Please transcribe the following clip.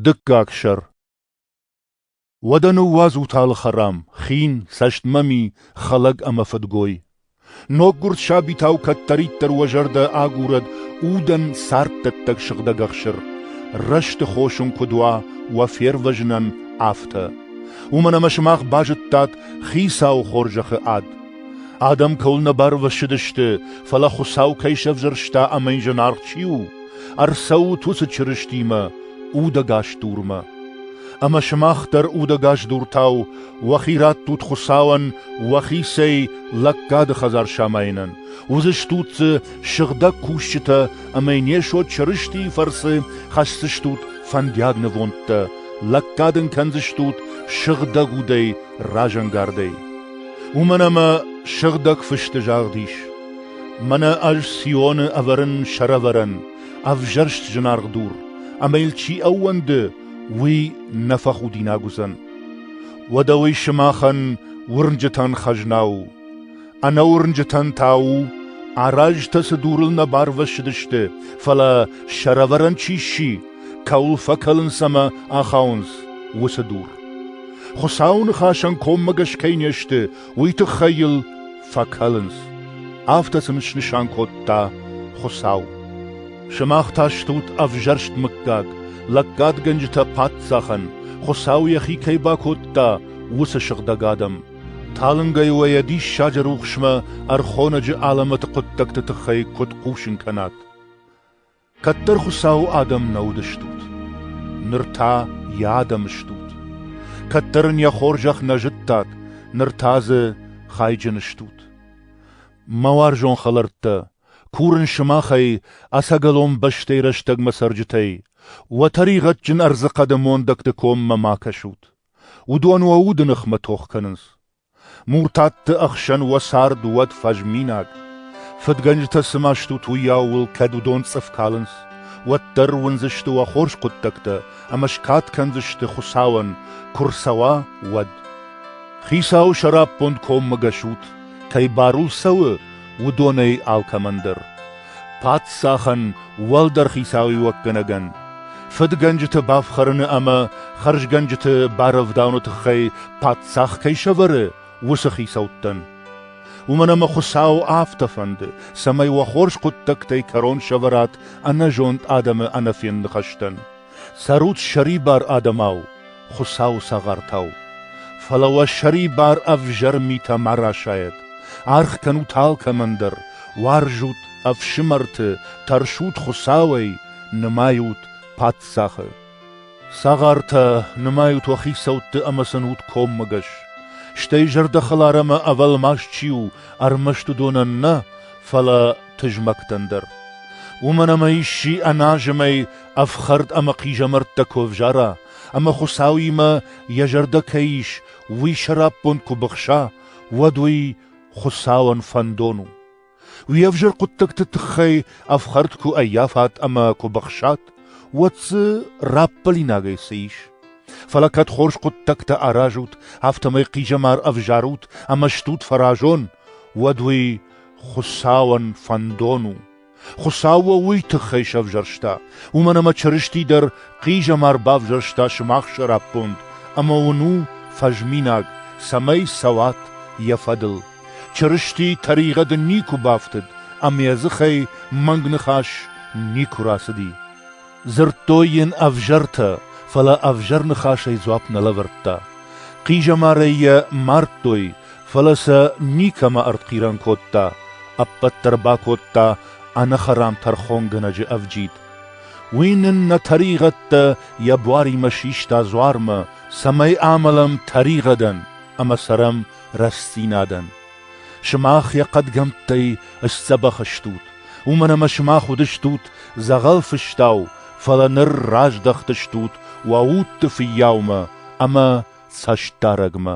Дыккаг сӕр. Уӕдӕ ныууадзут алы хӕрам, хин, цӕстмӕми, хӕлӕг ӕмӕ фыдгой. Ноггуырд сабитау кӕддӕриддӕр уӕ зӕрдӕ агурӕд удӕн царддӕттӕг сыгъдӕг ӕхсыр. Рӕзты хосун куыд уа уӕ фервӕзынӕн, афтӕ. Уымӕн ӕмӕ сымах базыдтат хицауы хорзӕхы ад. Адӕм кӕуыл нӕ барвӕссыдысты, фӕлӕ Хуыцау кӕй сӕвзӕрста ӕмӕ йын зынаргъ чи у, Ӕрцӕут уыцы Чырыстимӕ удӕгас дурмӕ. Ӕмӕ сымах дӕр удӕгас дуртау уӕхи раттут Хуыцауӕн уӕхицӕй лӕггады хӕдзар самайынӕн. Уыдзыстут дзы сыгъдӕг кусджытӕ ӕмӕ не сот Чырыстийы фӕрцы хӕсдзыстут фӕндиаг нывондтӕ, лӕггад ын кӕндзыстут сыгъдӕг удӕй разӕнгардӕй. Уымӕн ӕмӕ Сыгъдӕг Фысты загъд ис: Мӕнӕ ӕз Сионы ӕвӕрын сӕрӕвӕрӕн, ӕвзӕрст зынаргъ дур, ӕмӕ йыл чи ӕууӕнды, уый нӕ фӕхудинаг уыдзӕн. Уӕдӕ уый сымахӕн уырнджытӕн хӕзна у. Ӕнӕуырнджытӕн та у, аразтӕ цы дурыл нӕ барвӕссыдысты, фӕлӕ сӕрӕвӕрӕн чи сси, кӕуыл фӕкӕлынц ӕмӕ ахауынц, уыцы дур. Хуыцауы ныхасӕн коммӕгӕс кӕй не сты, уый тыххӕй йыл фӕкӕлынц. Афтӕ сын снысан кодта Хуыцау. Сымах та стут ӕвзӕрст мыггаг, лӕггадгӕнджытӕ паддзахӕн, Хуыцау йӕхи кӕй бакодта, уыцы сыгъдӕг адӕм. Талынгӕй уӕ йӕ диссаджы рухсмӕ ӕрхонӕджы алӕмӕты хъуыддӕгты тыххӕй куыд хъусын кӕнат? Кӕддӕр Хуыцауы адӕм нӕ уыдыстут, ныр та йӕ адӕм стут. Кӕддӕр ын йӕ хорзӕх нӕ зыдтат, ныр та дзы хайджын стут. Мӕ уарзон хӕлӕрттӕ, курын сымахӕй, ӕцӕгӕлон бӕстӕйы рӕстӕгмӕ цӕрджытӕй, уӕ тӕригъӕдджын ӕрдзы хъӕды мондӕгты коммӕ ма кӕсут. Уыдон уӕ уды ныхмӕ тох кӕнынц. Муртатты ӕхсӕн уӕ цард уӕд фӕзминаг. Фыдгӕнджытӕ цыма стут, уыйау уыл кӕд уыдон цъыф калынц, уӕддӕр уындзысты уӕ хорз хъуыддӕгтӕ ӕмӕ скад кӕндзысты Хуыцауӕн, куы рцӕуа, уӕд. Хицауы сӕраппонд коммӕгӕсут, кӕй барул цӕуы, уыдонӕй алкӕмӕн дӕр. паддзахӕн, уӕлдӕр хицауиуӕггӕнӕгӕн, фыдгӕнджыты бафхӕрыны ӕмӕ хӕрзгӕнджыты барӕвдауыны тыххӕй паддзах кӕй сӕвӕры, уыцы хицӕуттӕн. Уымӕн ӕмӕ Хуыцау афтӕ фӕнды, цӕмӕй уӕ хорз хъуыддӕгтӕй кӕрон сӕвӕрат ӕнӕзонд адӕмы ӕнӕфенд ныхӕстӕн. Цӕрут сӕрибар адӕмау, Хуыцауы цагъартау. Фӕлӕ уӕ сӕрибар ӕвзӕр митӕ ма расайӕд. Аргъ кӕнут алкӕмӕн дӕр, уарзут ӕфсымӕрты, тӕрсут Хуыцауӕй, нымайут паддзахы. Цагъартӕ, нымайут уӕ хицӕутты ӕмӕ цӕнут коммӕгӕс. Стӕй зӕрдӕхӕлар ӕмӕ ӕвӕлмас чи у, ӕрмӕст уыдонӕн нӕ, фӕлӕ тызмӕгтӕн дӕр. Уымӕн ӕмӕ исчи ӕназымӕй Ӕфхӕрд ӕмӕ хъизӕмӕрттӕ куы ӕвзара, ӕмӕ Хуыцауимӕ йӕ зӕрдӕ кӕй ис, уый сӕраппонд куы быхса, уӕд уый Хуыцауӕн фӕндон у. Уе взӕр хъуыддӕгты тыххӕй ӕфхӕрд куы ӕййафат ӕмӕ куы быхсат, уӕд дзы раппӕлинагӕй цы ис? Фӕлӕ кӕд хорз хъуыддӕгтӕ аразут, афтӕмӕй хъизӕмар ӕвзарут ӕмӕ стут фӕразон, уӕд уый Хуыцауӕн фӕндон у. Хуыцау уӕ уый тыххӕй сӕвзӕрста, уымӕн ӕмӕ Чырысти дӕр хъизӕмар бавзӕрста сымах сӕраппонд, ӕмӕ уын у фӕзминаг, цӕмӕй цӕуат йӕ фӕдыл. Чырысти тӕригъӕды никуы бафтыд, ӕмӕ йӕ дзыхӕй мӕнг ныхас никуы рацыди. Дзырдтой йын ӕвзӕртӕ, фӕлӕ ӕвзӕр ныхасӕй дзуапп нӕ лӕвӕрдта. Хъизӕмарӕй йӕ мардтой, фӕлӕ сӕ никӕмӕ ӕртхъирӕн кодта, ӕппӕт дӕр бакодта ӕнӕхӕрам тӕрхонгӕнӕджы ӕвджид. Уый нын нӕ тӕригъӕдтӕ йӕ буаримӕ систа дзуармӕ, цӕмӕй амӕлӕм тӕригъӕдӕн ӕмӕ цӕрӕм рӕстдзинадӕн. Сымах йӕ хъӕдгӕмттӕй сдзӕбӕх стут, уымӕн ӕмӕ сымах уыдыстут дзӕгъӕл фыстау, фӕлӕ ныр раздӕхтыстут уӕ удты фыййаумӕ ӕмӕ цӕстдарӕгмӕ.